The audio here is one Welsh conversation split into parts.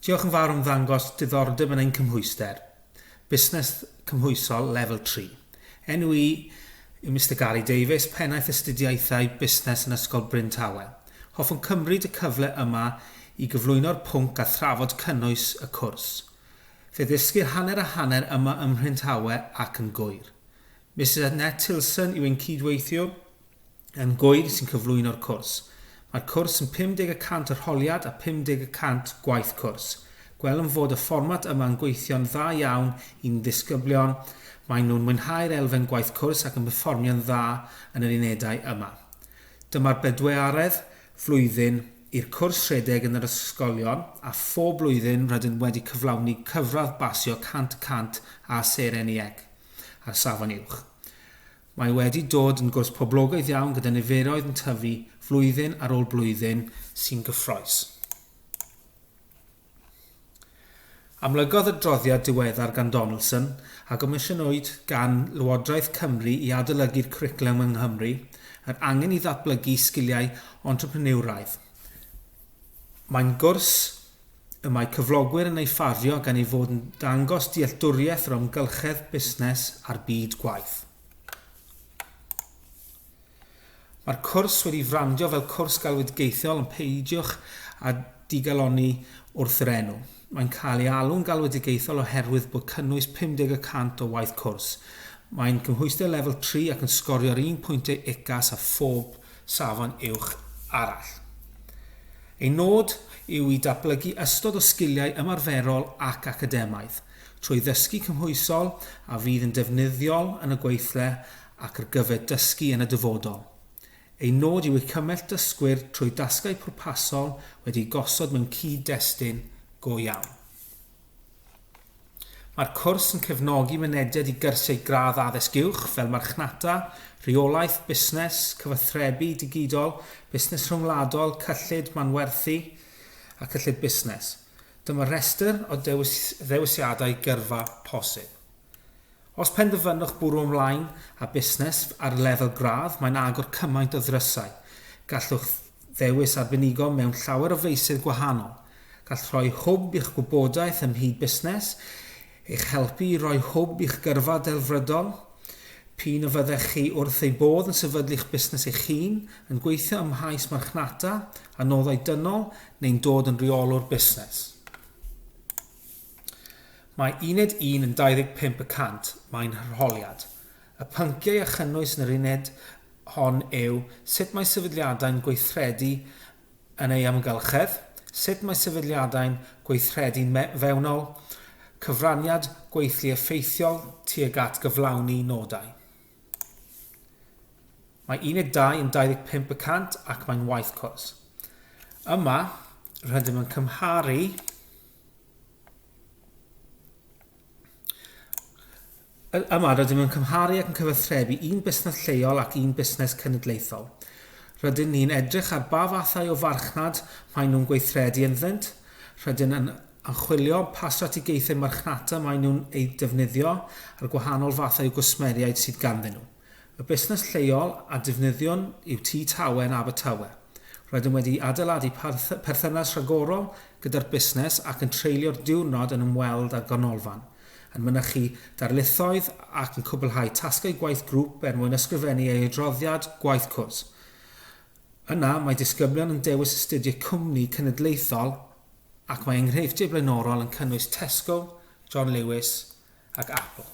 Diolch yn fawr am ddangos diddordeb yn ein cymhwyster, Busnes Cymhwysol Lefel Tri. Enw i yw Mister Gary Davies, Pennaeth Astudiaethau Busnes yn Ysgol Bryn Tawe. Hoffwn cymryd y cyfle yma i gyflwyno'r pwnc a thrafod cynnwys y cwrs. Fe ddysgir hanner a hanner yma ym Mhryntawe ac yn Gŵyr. Misus Annette Tilson yw ein cyd-weithiwr, yn Gŵyr sy'n cyflwyno'r cwrs. Mae'r cwrs yn 50 y cant arholiad a 50 y cant gwaith cwrs. Gwelwn fod y fformat yma yn gweithio'n dda iawn i'n ddisgyblion, maen nhw'n mwynhau'r elfen gwaith cwrs ac yn perfformio'n dda yn yr unedau yma. Dyma'r bedwearedd flwyddyn i'r cwrs rhedeg yn yr ysgolion a phob blwyddyn rydym wedi cyflawni cyfradd basio 100 y cant â seren iec a'r safon uwch. Mae wedi dod yn gwrs poblogaidd iawn gyda niferoedd yn tyfu flwyddyn ar ôl blwyddyn sy'n gyffrous. Amlygodd adroddiad diweddar gan Donaldson, a gomisiynwyd gan Lywodraeth Cymru i adolygu'r cwricwlwm yng Nghymru, yr angen i ddatblygu sgiliau entrepreneuraidd. Mae'n gwrs y mae cyflogwyr yn ei ffafio gan ei fod yn dangos dealltwriaeth yr amgylchedd busnes a'r byd gwaith. Mae'r cwrs wedi frandio fel cwrs galwedigaethol ond peidiwch â digalonni wrth yr enw. Mae'n cael ei alw'n galwedigaethol oherwydd bod cynnwys 50 y cant o waith cwrs. Mae'n cymhwyster lefel 3 ac yn sgorio'r un pwyntiau UCAS â phob safon uwch arall. Ei nod yw i datblygu ystod o sgiliau ymarferol ac academaidd, trwy ddysgu cymhwysol a fydd yn defnyddiol yn y gweithle ac ar gyfer dysgu yn y dyfodol. Ei nod yw i cymell dysgwyr trwy dasgau pwrpasol wedi'u gosod mewn cyd-destun go iawn. Mae'r cwrs yn cefnogi mynediad i gyrsiau gradd Addysg Uwch fel Marchnata, Rheolaeth, Busnes, Cyfathrebu Digidol, Busnes Rhyngwladol, Cyllid, Manwerthu a Cyllid Busnes. Dyma restr o ddewis ddewisiadau gyrfa posib. Os penderfynwch bwrw ymlaen â busnes ar lefel gradd, mae'n agor cymaint o ddrysau. Gallwch Ddewis arbenigo mewn llawer o feysydd gwahanol. Gall rhoi hwb i'ch gwybodaeth ym mhyd busnes eich helpu i roi hwb i'ch gyrfa delfrydol. P'un a fyddech chi wrth ei bodd yn sefydlu'ch busnes eich hun, yn gweithio ym mhaes marchnata a noddau dynol neu'n dod yn reolwr busnes. Mae uned un yn 25 y cant, mae'n arholiad. Y pynciau a chynnwys yn yr uned hon yw sut mae sefydliadau'n gweithredu yn eu hamgylchedd, sut mae sefydliadau'n gweithredu fewnol, cyfraniad gweithlu effeithiol tuag at gyflawni nodau. Mae uned 2 yn 25 y cant ac mae'n waith cwrs. Yma, rydym yn cymharu Yma, rydym yn cymharu ac yn cyfathrebu un busnes lleol ac un busnes cenedlaethol. Rydyn ni'n edrych ar ba fathau o farchnad maen nhw'n gweithredu ynddynt, rydyn yn anchwilio pa strategaethau marchnata maen nhw'n eu defnyddio a'r gwahanol fathau o gwsmeriaid sydd ganddyn nhw. Y busnes lleol a defnyddiwn yw Tŷ Tawen Abertawe. Rydym wedi adeiladu perthynas rhagorol gyda'r busnes ac yn treulio'r diwrnod yn ymweld â'r ganolfan, yn mynychu darlithoedd ac yn cwblhau tasgau gwaith grŵp er mwyn ysgrifennu ei adroddiad gwaith cwrs. Yna, mae disgyblion yn dewis astudio cwmni cenedlaethol ac mae enghreifftiau blaenorol yn cynnwys Tesco, John Lewis ac Apple.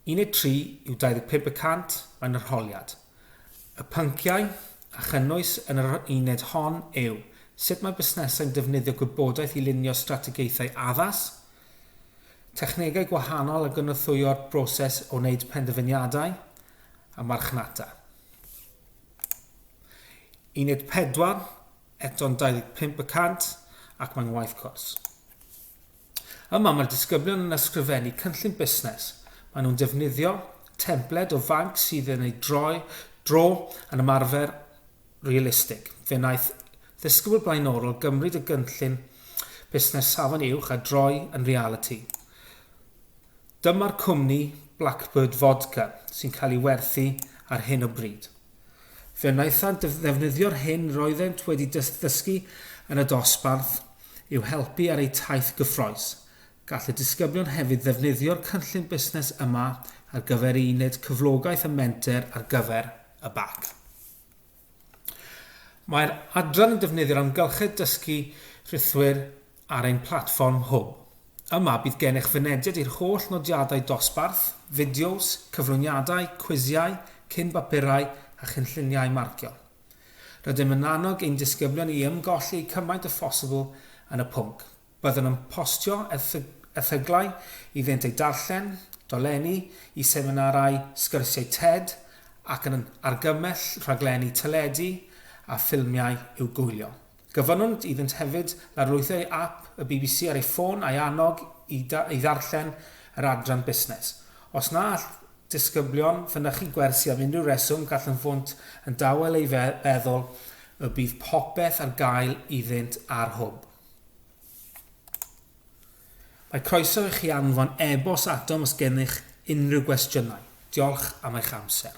13 yw 25 y cant yn yr holiad. Y pynciau a chynnwys yn yr uned hon yw, sut mae busnesau'n defnyddio gwybodaeth i lunio strategaethau addas, technegau gwahanol a gynorthwyo'r broses o wneud penderfyniadau, a marchnata. Uned 4, eto'n 25 y cant, ac mae'n waith cwrs. Yma mae'r disgyblion yn ysgrifennu cynllun busnes. Maen nhw'n defnyddio templed o fanc sydd yn ei droi dro yn ymarfer realistig. Fe wnaeth ddisgybl blaenorol gymryd y gynllun busnes safon uwch a droi yn realiti. Dyma'r cwmni Blackbird Vodka sy'n cael ei werthu ar hyn o bryd. Fe wnaethant ddefnyddio'r hyn roeddent wedi ddysgu yn y dosbarth i'w helpu ar eu taith gyffrous. Gall y disgyblion hefyd ddefnyddio'r cynllun busnes yma ar gyfer i wneud cyflogaeth a menter ar gyfer y bac. Mae'r adran yn defnyddio'r amgylchedd dysgu rhithwir ar ein platfform Hwb. Yma bydd gennych fynediad i'r holl nodiadau dosbarth, fideos, cyflwyniadau, cwisiau, cyn-bapurau a chynlluniau marcio. Rydym yn annog ein disgyblion i ymgolli cymaint â phosibl yn y pwnc. Byddwn yn postio erthyglau iddynt eu darllen, dolenni i seminarau, sgyrsiau TED ac yn argymell rhaglenni teledu a ffilmiau i'w gwylio. Gofynnwyd iddynt hefyd larlwytho ei ap y bbc ar ei ffôn a'i annog i i ddarllen yr adran busnes. Os na all disgyblion fynychu gwersi am unrhyw reswm, gallyntfwnt yn dawel ei fe feddwl y bydd popeth ar gael iddynt ar hwb. Mae croeso i chi anfon e-bost atom os gennych unrhyw gwestiynau. Diolch am eich amser.